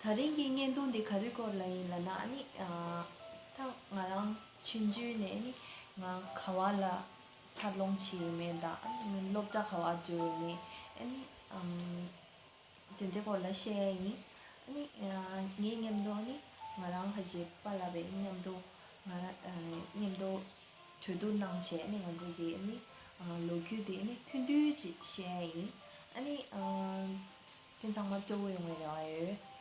ད་རིང་གི་བརྙན་ཐུང་འདི་ག་རིའི་སྐོར་ལ་ཡིན་ལ་ན་ནི། ད་ང་རང་ཆུང་དུས་ནས་ནི་ང་ག་བ་ལ་འཚར་ལོངས་བྱས་ཡོད་མེད་དང་ཨ་ནི་སློབ་གྲྭ་ག་བ་འགྲོ་ཡོད་མེད་ཨ་ནི་དེ་འདྲའི་སྐོར་ལ་བཤད་ཡ་ཡིན། ཨ་ནི་ངའི་སྙམ་དུ་ཨ་ནི་ང་རང་ཧ་ཅིག་པ་ལ་བའི་སྙམ་དུ་ང་རང་སྙམ་དུ་གྲོས་བསྡུར་གནང་བྱས་ཨ་ནི་ང་ཚོ་གི་ཨ་ནི་ལོ་རྒྱུས་འདི་ཨ་ནི་མཐུན་སྒྲིལ་ཅིག་བཤད་ཡ་ཡིན། ཨ་ནི། དེ་ཚང་མ་གཙོ་བོ་ཡོང་བའི་རེ་བ་ཡོད།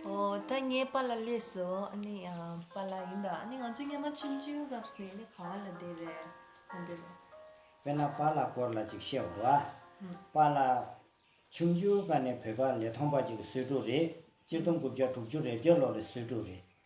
ཨོ་ད་ངས་པཱ་ལ་ལས་སོ་ཨ་ནི་པཱ་ལ་ཡིན་ད་ཨ་ནི་ང་ཚོས་མཉམ་མ་ཆུང་ཆུང་སྐབས་སུ་ནས་ག་བ་ལ་བསྡད་རེད་ཨ་འདི་རེད། དཔེར་ན་པཱ་ལ་སྐོར་ལ་ཅིག་བཤད་བར། པཱ་ལ། ཆུང་ཆུང་སྐབས་ནས་བོད་པ་ལས་ཐོངས་པ་ཅིག་གི་གསོས་ཕྲུག་རེད་སྤྱིར་བཏང་དགུ་བརྒྱ་དྲུག་ཅུ་རེ་བརྒྱད་ལོ་རེ་གསོས་ཕྲུག་རེད།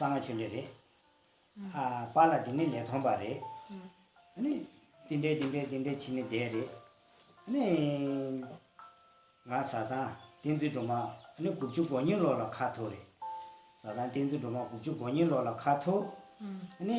གསང་བ་ཆོས་འབྲེལ་རེད། ཨ་པ་ལ་དེ་ནི་ལས་ཐོངས་པ་རེད། ཨ་ནི། དེ་འདྲའི་དེ་འདྲའི་དེ་འདྲའི་བྱིན་ནི་བསྡད་རེད། ཨ་ནི། ང་བཟའ་ཚང་བསྟན་འཛིན་སྒྲོལ་མ་ཨ་ནི་དགུ་བཅུ་གོ་གཉིས་ལོ་ལ་ཁ་ཐོ་རེད། བཟའ་ཚང་བསྟན་འཛིན་སྒྲོལ་མ་དགུ་བཅུ་གོ་གཉིས་ལོ་ལ་ཁ་ཐོ། ཨ་ནི།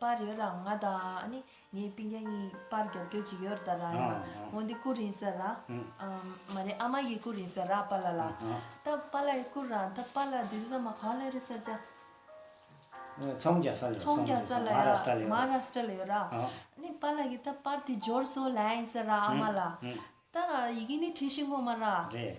པར་ཡོད་ལ་ང་དང་ངའི་སྤུན་ཟླ་གཉིས་པར་རྒྱབ་སྐྱོར་བྱེད་ཡོད་རེད་ལ་ཡང་འོན་ཏེ་སྐུ་རིང་སར་ལ་མ་རེད་ཨ་མ་ཡིས་སྐུ་རིང་སར་ར་པ་ལ་ལ་ད་པ་ལ་ཡི་སྐུ་ར་ད་པ་ལ་དེ་རིང་ས་མ་གང་ལོན་རེད་སར་ཅག་ཚོང་རྒྱག་སར་ལ་ཡོད་ཚོང་རྒྱག་སར་ལ་ཡོད་མ་ར་སི་ཏྲ་ལ་ཡོད་ར་ནི་པ་ལ་གི་ད་པར་དེ་འབྱོར་སོ་ལན་ཡིན་སར་ར་ཨ་མ་ལ་ད་ཡི་གི་ནི་ཁྲི་ཤིང་ཁོ་མ་ར་རེད་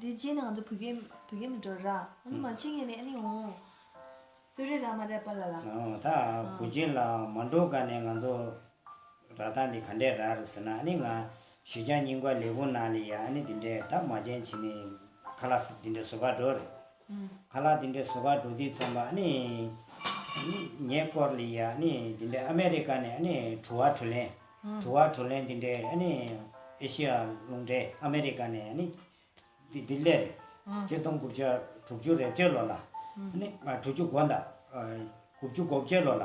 དེ་རྗེས་ནས་ང་ཚོ་བོད་སྐད་བོད་སྐད་མི་འགྲོ་ར། ཨ་ནི་མ་ཕྱི་ངས་ནས་ཨ་ནི་ཨོ། སུ་རེད་ར་མ་རེད་པ་ལ་ལ། ཨོ་ད་བུ་ཅན་ལ་མ་འགྲོ་ག་ནས་ང་ཚོ་ར་ད་འདི་ག་འདྲས་ར་རེད་ཟེར་ན་ཨ་ནི་ང་གཞི་ཆགས་སྙིང་པ་ལེགས་པོ་ནང་ལེ་ཡ་ཨ་ནི་འདི་འདྲས་ད་མ་ཅན་བྱེད་ནས་ཁ་ལགས་སེ་འདི་འདྲས་བཟོ་པ་འགྲོ་རེད། ག་ལ་དེ་འདྲའི་བཟོ་གར་འགྲོ་དུས་རྩོམ་པ་ནི། ཉེ་སྐོར་ལ་ཡ་ནི་དེ་འདྲའི་ཨ་མེ་རི་ཀ་ནས་གྲུ་བ་གྲུ་ལེན། གྲུ་བ་གྲུ་ལེན་དེ་འདྲའི་ཨེ་ཤི་ཡ་ལུང་འདྲའི་ཨ་མེ་རི་ཀ་ནས་ལྡི་ལི་རེད། སྤྱི་སྟོང་དགུ་བརྒྱ་དྲུག་ཅུ་རེ་བཅུ་ལོ་ལ། དྲུག་ཅུ་དགུ་ཟླ་དགུ་བཅུ་གོ་བརྒྱད་ལོ་ལ།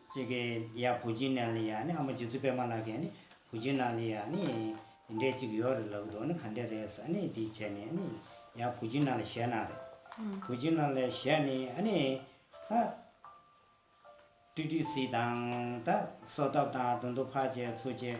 ཅེས་ཀྱི། ཡང་བུ་སྦྱིན་ནཱ་ལི་ཡཱ་ནི་ཨ་མ་རྗེ་བཙུན་པདྨ་ལགས་ཀྱིས་ནི་བུ་སྦྱིན་ནཱ་ལི་ཡཱ་ནི་འདྲེ་གཅིག་ཡོད་རེད་ལབ་དོ་ནི་ག་འདྲེ་རེད་ས་ནི་འདི་བྱས་ནས་ནི་ཡང་བུ་སྦྱིན་ནཱ་ལ་ཞལ་གནང་རེད། བུ་སྦྱིན་ནཱ་ལའི་ཞལ་ནི་ཨ་ནི། ཧ། ཀྲི་ཀྲི་སི་དང། ད་སོ་ཐབ་དང་དུ་འདུ་འཕགས་བཅས་ཚུ་བཅས།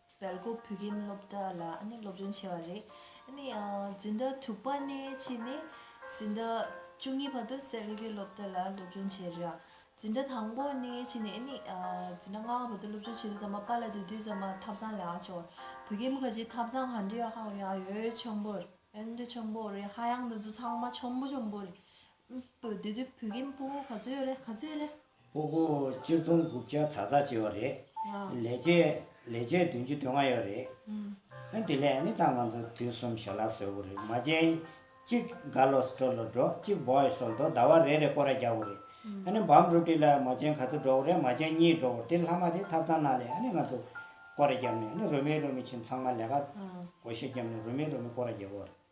བལ་སྒོ་བོད་ཁྱིམ་སློབ་གྲྭ་ལ་སློབ་སྦྱོང་བྱས་པ་རེད། འཛིན་གྲྭ་དྲུག་པ་ནས་ཕྱིན་ནས་འཛིན་གྲྭ་བཅུ་གཉིས་བར་དུ་གསེར་གྱི་སློབ་གྲྭ་ལ་སློབ་སྦྱོང་བྱས་རེད། འཛིན་གྲྭ་དང་པོ་ནས་ཕྱིན་ནས་འཛིན་གྲྭ་ལྔ་བ་བར་དུ་སློབ་སྦྱོང་བྱས་དུས་ཚང་མ་པཱ་ལ་སྡོད་དུས་ཚང་མ་ཐབ་ཚང་ལ་ཕྱོགས། བོད་ཁྱིམ་ཁ་ཆེའི་ཐབ་ཚང་གང་དྲིས་ཡོད་ཧ་ཡང་ཡོད་ཆོམ་པོ་རེད། ཧ་ཡང་དུ་འཛུལ་ཚང་མ་ཆོམ་པོ་ཆོམ་པོ་རེད། བདུད་རྩི་བུ་གིན་སྤོ་བོ་ག་ཚོད་ཡོད་རེད་ག་ཚོད་ཡོད་རེད། སྤོ་བོ་སྤྱིར་བཏང་དགུ་བརྒྱ་ཚ་ཚ་བྱས་བ་རེད། ལས་བྱེད་ལས་བྱེད་བདུན་ཅུ་དོན་ལྔ་ཡོད་རེད། དེ་ལས་ནི་ད་ང་ཚོ་དུས་གསུམ་ཞལ་ལག་བཟོས་བོ་རེད་མ་བྱན། གཅིག་ག་ལོ་སྤྲོ་ལོ་འགྲོ་གཅིག་བོའི་སོ་ལྡོ་ཟླ་བ་རེ་རེ་སྐོར་ར་རྒྱག་བོ་རེད། འདི་འབམ་རུ་ཏི་ལ་མ་བྱན་ག་ཚོད་འགྲོ་བོ་རེད་མ་བྱན་གཉིས་འགྲོ་བོ་དེ་ལྷག་མ་དེ་ཐབ་ཚང་ནང་ལས་ནི་ང་ཚོ་སྐོར་ར་རྒྱབ་ནས་ནི་རུ་མི་རུ་མི་ཕྱིན་ཚང་མ་ལས་ཀ་གོ་ཤེས་རྒྱབ་ནས་རུ་མི་རུ་མི་སྐོར་ར་རྒྱབ་བོ་རེད།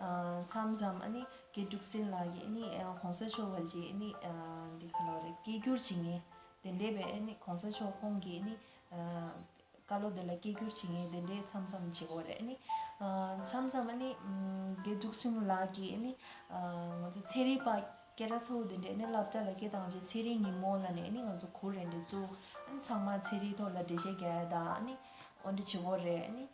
མཚམས་རྣམས་ནི་དགེ་ཕྲུག་སྲིན་ལག་གིས་ནི་གོང་ས་མཆོག་བར་གྱིས་ནི་འདི་ག་ལོར་སྐད་བསྒྱུར་བྱེད་ངེས་དེ་འདྲས་པས་ནི་གོང་ས་མཆོག་ཁོང་གིས་ནི་བཀའ་ལོ་འདི་ལ་སྐད་བསྒྱུར་བྱེད་ངེས་དེ་འདྲས་མཚམས་མཚམས་བྱེད་དགོས་རེད་ནི་མཚམས་མཚམས་ནི་དགེ་ཕྲུག་སྲིན་ལག་གིས་ནི་ང་ཚོ་ཚེ་རིང་པ་སྐད་སྒྲ་ཚ་བོ་དེ་འདྲས་ནི་བསླབ་བྱ་ལ་སྐད་བཏང་རྗེས་ཚེ་རིང་ཉིན་མོ་ལ་ནས་ནི་ང་ཚོ་གུར་རེ་འདྲས་བཙུགས་ཚང་མ་ཚེ་རིང་ཐོག་ལ་འགྲེལ་བཤད་རྒྱ་ཡ་དང་ནི་འོ་འདྲ་བྱེད་དགོས་རེད་ནི་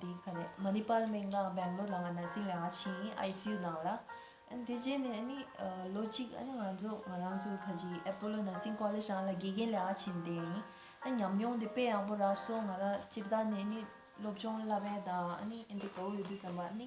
འདི་ག་རེད་མ་ནི་པཱལ་མེག་ནག་སྦེང་ལོར་ལ་ང་ནར་སིང་ཡང་ཕྱིན ICU ནང་ལ། དེ་རྗེས་ནས་ནི་ལོ་གཅིག་ཨ་ནི་ང་ཚོ་ང་རང་ཚོ་ག་ཅིག་ཨེ་པོ་ལོ་ནར་སིང་ཀོ་ལེས་ཡང་ལ་དགེ་རྒན་ལ་ཡང་ཕྱིན་དེ་ཡིན། ཨ་ཉམས་མྱོང་དེ་དཔེ་ཡག་པོ་རག་སོང་ང་རང་སྤྱིར་བཏང་ནས་ནི་སློབ་སྦྱོང་བསླབ་པའི་དང་ཨ་ནི་ཨེ་འདྲ་གོ་བོ་ཡོད་དུས་བསམ་པ་ཨ་ནི།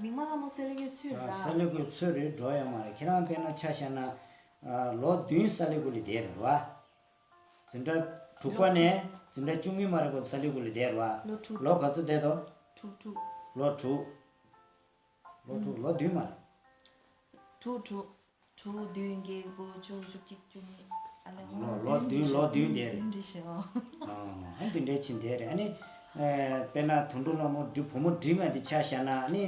མིག་མ་ལ་མོ་སལ་ལེ་གོས་ཚོས་རེད་ད། སལ་ལེ་གོས་ཚོས་རེད་འགྲོ་ཡ་མ་རེད་ཁྱེད་རང་དཔེ་ན་ཆ་བཤད་ན། ལོ་བདུན་སལ་ལེ་གོས་ལེ་བསྡད་རེད་རོ། འཛིན་གྲྭ་དྲུག་པ་ནས་འཛིན་གྲྭ་བཅུ་གཉིས་མ་རེད་གོ་སལ་ལེ་གོས་ལེ་བསྡད་རོ། ལོ་དྲུག། ལོ་ག་ཚོད་བསྡད་དོ། དྲུག་དྲུག། ལོ་དྲུག། ལོ་དྲུག་ལོ་བདུན་མ་རེད། དྲུག་དྲུག། དྲུག་བདུན་བརྒྱད་དགུ་བཅུ་བཅུ་གཅིག་བཅུ་གཉིས་ཨ་ལས་ང་ལོ་བདུན་ལོ་བདུན་འདས་རེད། འདི་ཕྱི་ཨོ། ཨ་འདི་འདྲའི་ཕྱི་འདས་རེད་ཨ་ནི། དཔེར་ན་དུད་འགྲོ་ལྷ་མོ་འདྲི་བུ་མོ་འདྲི་ང་འདི་ཆ་ཤ་ན་ཨ་ནི།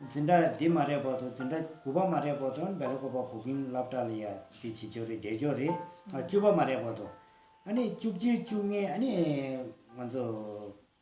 འཛིན་གྲྭ་འདི་མ་རེད་བར་དུ་འཛིན་གྲྭ་དགུ་པ་མ་རེད་བར་དུ་ཨ་ནི་བལ་ལོ་ཀོ་པ་གོ་གིན་ལབ་ཏྲ་ལ་ཡ་འདི་བྱེད་ཀྱོ་རེད་འདས་ཀྱོ་རེད་བཅུ་པ་མ་རེད་བར་དུ། ཨ་ནི་བཅུ་གཅིག་བཅུ་ལྔའི་ཨ་ནི། ང་ཚོ།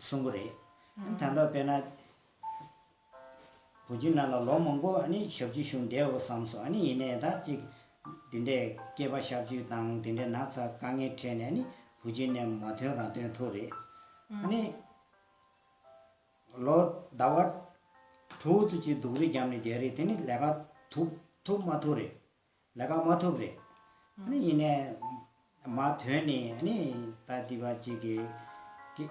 གསུམ་པོ་རེད། དང་ཐོག་དཔལ་ནཱ་བོ་ཇི་ན་ལ་ལོ་མང་པོ་ཞབས་ཀྱི་ཞུ་འདེའོ་བསམ་སོ། ཡིན་ནའི་ད་ཅིག་དེ་འདྲའི་སྐྱེས་པ་ཤབ་ཅུས་དང་དེ་འདྲའི་ནག་ཚ་དཀའ་ངལ་ཁྲེལ་ནས་བུ་ཇི་ནས་མ་ཐོན་རང་ཐོན་ཐུག་རེད། ལོ་ཟླ་བ་དྲུག་ཅུ་གཅིག་སྡུག་རུས་བརྒྱབ་ནས་རྒྱལ་རིགས་དེ་ནི་ལས་ཀ་ཐུག་མ་ཐུག་རེད། ལས་ཀ་མ་ཐུབ་རེད། ཨ་ཡིན་ནས། མ་དོན་ནི་ཨ་ནི་ད་ལྟི་བ་གཅིག་གི།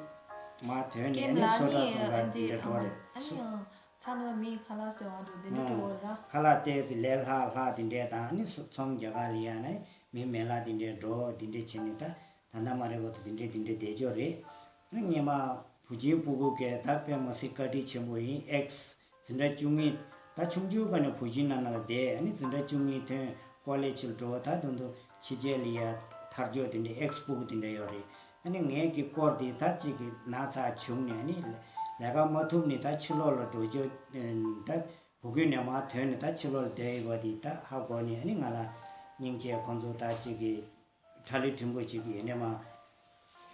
མ་དོན་ནི་ཨ་ནི་སོ་ཏྲ་ཙོང་ཁ་ཇི་འདྲ་གྲོ་རེད། ཨ་ཡིན། མཚམས་ལ་མིའི་ཁ་ལག་ཟེར་བ་འདུག་དེ་འདྲ་གྲོ་རེད། ཁ་ལག་སྟེ་ཙི་ལས་ལྷག་ལྷག་དེ་འདྲས་དང་ཨ་ནི་ཚོང་རྒྱ་ག་ལི་ཡ་ན་མིའི་མེ་ལག་དེ་འདྲས་འགྲོ་འོ་དེ་འདྲས་བྱེད་ནི་ད་ད་ནམ་མ་རེད་བ་ཏུ་དེ་འདྲས་དེ་འདྲས་བསྡད་ཆོག་རེད། ཨ་མྱེས་མ། བུ་ཆེན་སྤུ་གུ་སྐལ་ལྡག་དཔལ་མོ་སི་བཀའ་དྲིན་ཆེན་པོ་ཡིན་ཨེགས། འཛིན་གྲྭ་བཅུ་གཉིས། ད་ཆུང་ཆུང་ག་ནས་བུ་བཞིན་ན་ན་ལ་བསྡད་ཨ་ནི་འཛིན་གྲྭ་བཅུ་གཉིས་ཐོན་སྐོར་ལས་ཕྱིར་འགྲོ་བ་ད་དུང་དུ་ཕྱི་རྒྱལ་ལ་ཡ་ཐར་འཇོག་དེ་འདྲའི་ཨེགས་སྤུ་གུ་དེ་འདྲ་ཡོད་རེད་ཨ་ནི་ངས་ཀྱི་སྐོར་དེ་ད་ཅིག་གི་ན་ཚ་བྱུང་ནས་ཨ་ནི་ལས་ཀ་མ་ཐུབ་ནི་ད་ཕྱི་ལོག་ལ་འགྲོ་འཇོག་ད་བུ་གུ་ནས་མ་ཐོན་ནི་ད་ཕྱི་ལོག་ལ་བསྡད་ཡོད་པ་དེ་ད་ཧ་གོ་ནི་ཨ་ནི་ང་ལ་སྙིང་རྗེ་ཁོང་ཚོ་ད་ཅིག་གི་ཁྲ་ལི་བྲིན་པོ་ཆེ་གི་ཡེ་ནས་མ།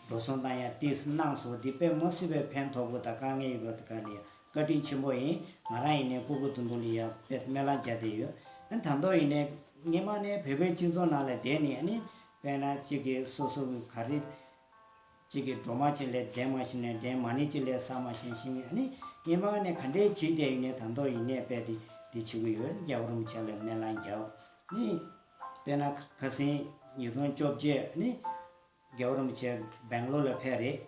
འགྲོ་གསུང་དང་ཡང་ཏིས་གནང་སོ་འདི་དཔལ་མོ་སི་བའི་ཕན་ཐོག་པོ་དང་དཀའ་ངལ་ཡོད་པ་དེ་ག་ནི་ཡང་བཀའ་དྲིན་ཆེན་པོ་ཡིན་ང་རང་ཡེ་ནས་སྐུ་གུ་དུམ་བུ་ལི་ཡང་པད་སྨད་ལང་རྒྱ་དེ་ཡོད་ཨ་དང་ཐོག་ཡེ་ནས་སྔན་མ་ནས་བོད་པའི་སྤྱི་ཚོགས་ནང་ལ་བསྡད་ནི་ཨ་ནི་དཔལ་ན་གཅིག་གི་སོ་སོ་གི་ག་རི། གཅིག་གི་སྒྲོ་མ་གཅིག་ལས་འདན་མ་ཞིམ་ནས་འདན་མ་ནི་གཅིག་ལས་ས་མ་ཞན་ཞིང་ཨ་ནི་སྔན་མ་ནས་ག་འདྲའི་བྱིས་བརྟས་ཡིན་ནས་དང་ཐོག་ཡེ་ནས་པད་དེ་འདི་བྱིས་གུ་ཡོད་ནི་རྒྱ་གུ་རུམ་བྱས་ལ་སྨད་ལང་རྒྱ་ཨ་ནི། དཔེར་ན་ཁ་སེང་ཉིས་སྟོང་བཅོ་བརྒྱད་ནི་རྒྱལ་བོ་རིན་པོ་ཆེ་སྦེང་ལོར་ལ་ཕེབས་རེད།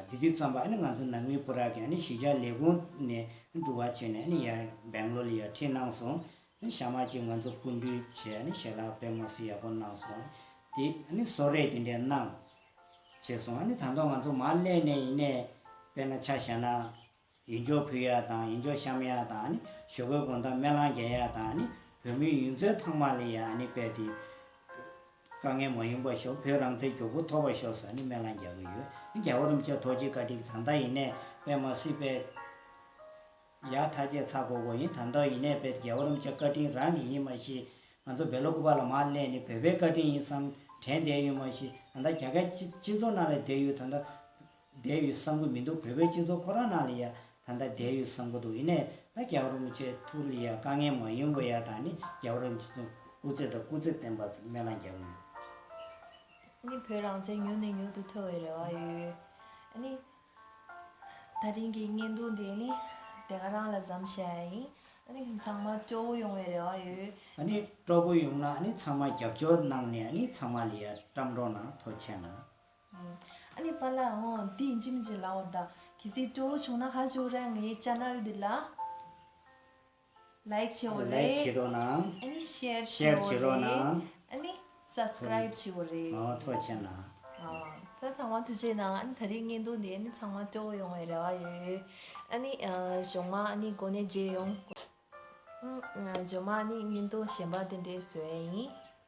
དེ་དུས་ཙམ་པར་ང་ཚོ་ནང་མི་པོ་རག་གིས་གཞིས་ཆགས་ལས་ཁུངས་ནས་འགྲུལ་བ་བྱས་ནས་ཡར་སྦེང་ལོར་ལ་ཡར་འཁྲིད་གནང་སོང། ཞྭ་དམར་གྱིས་ང་ཚོ་བཀུར་འདུས་བྱས་ནས་ཞལ་ལག་པད་མོ་སི་ཡག་པོ་གནང་སོང། དེ་སོགས་རེད་དེ་འདྲས་གནང། བྱས་སོང། ད་དུང་ང་ཚོ་མར་སླེབས་ནས་ཡིན་ནས་དཔེར་ན་ཆ་བཞག་ན། ཡིན་ཇོ་ཕུ་ཡག་དང་ཡིན་ཇོ་ཤམ་ཡག་དང་ནི་ཞོ་གོས་གོང་དང་མེ་ལང་རྒྱལ་ཡག་དང་ནི་བོད་མིའི་ཡུན་ཚོད་ཐང་མ་ལི་ཡག་ནི་པད་ཏི། དཀའ་ངལ་མ་ཡོང་པ་ཤོག་བོད་རང་བཙན་མགྱོགས་པོ་ཐོབ་པ་ཤོག་ཟ་ནི་མེ་ལང་རྒྱག་གི་ཡོད་ནི་རྒྱ་བོ་རུམ་ཆད་ཐོག་ཅིག་བཀའ་ཁྲིག་དང་ད་ཡིན་ནས་པད་མ་སི་པད་ཡག་ཐ་ཆད་ཚ་གོ་གོ་ཡིན་དང་ད་ཡིན་ནས་པད་ཏི་རྒྱ་བོ་རུམ་ཆད་བཀའ་ཁྲིན་རང་གི་ཡིན་མ་ཤི་ང་ཚོ་བེ་ལོ་ཀུ་པ་ལ་མ་གླས་ནི་བོད་པའི་བཀའ་ཁྲིན་ཡིན་བསམ་དྲན་བསྡད་ཡོད་མ་ཤི་དང་ད་རྒྱ་གར་སྤྱི་ཚོགས་ནང་ལ་བསྡད་ཡོད་དང་ད། བསྡད་ཡོད་བསམ་གི་མི་འདུག་བོད་པའི་སྤྱི་ཚོགས་ཁོ་རང་ནང་ལ་ཡང་ད་ལྟ་བསྡད་ཡོད་བསམ་གི་འདུག་ཡིན་ནའི་ད་རྒྱ་གར་རུ་མི་ཆེ་ཐུག་ལ་ཡང་དཀའ་ངལ་མང་ཡོད་མགོ་ཡག་དང་ནི་རྒྱ་གར་རུ་མི་ཚོ་སྐུ་རྩེད་དང་སྐུ་རྩེད་བསྟན་པ་ཚོ་སྨན་བླང་རྒྱག་གི་ཡོད། ཨ་ནི་བོད་རང་བཙན་མྱུར་ནས་མྱུར་དུ་ཐོབ་བའི་རེ་བ་ཡོད། ཨ་ནི། ད་རིང་གི་བརྙན་ཐུང་དེ་ནི་དེ་ག་རང་ལ་བཟའམ་ཞེས་ཨ་ཡིན། ཨ་ནི་ཚང་མ་སྐྱོ་བོ་ཡོང་བའི་རེ་བ་ཡོད། ཨ་ནི་སྐྲོ་བོ་ཡོང་ན་ཨ་ནི་ཚང་མ་རྒྱབ་སྐྱོར་གནང་ནས་ཨ་ནི་ཚང་མ་ལ་ཡང་བཀྲམ་འགྲོ་ན་ཐོ་ཆེ་ན། ཨ་ནི་པཱ་ལགས། འོ་འདི་ཡིན་གྱི་མིན་གྱི་ལའོ་ད། ཁྱེད་ཚོས་སྤྲོ་བོ་བྱུང་ན་ཧ་ཞུ་རན་ངའི Channel འདི་ལ Like བྱེད་འོ་རེད། Like བྱེད་རོགས་གནང། ཨ་ནི Share Share བྱེད་རོགས་གནང། ཨ་ནི Subscribe བྱེད་འོ་རེད། མང་བ་ཐོག་བྱས་གནང། རྩ་ཚང་མ་ཐུགས་རྗེ་གནང་ཨ་ནི་ད་རེས་བརྙན་ཐུང་འདི་ཨ་ནི་ཚང་མ་སྤྲོ་བོ་ཡོང་བའི་རེ་བ་ཡོད། ཨ་ནི་ཞོགས་མ་ཨ་ནི་གོ་ནས་མཇལ་ཡོང། ཞོགས་མ་ཨ་ནི་བརྙན་ཐུང་གཞན་པ་དེ་འདྲས་བཟོས་ཡིན།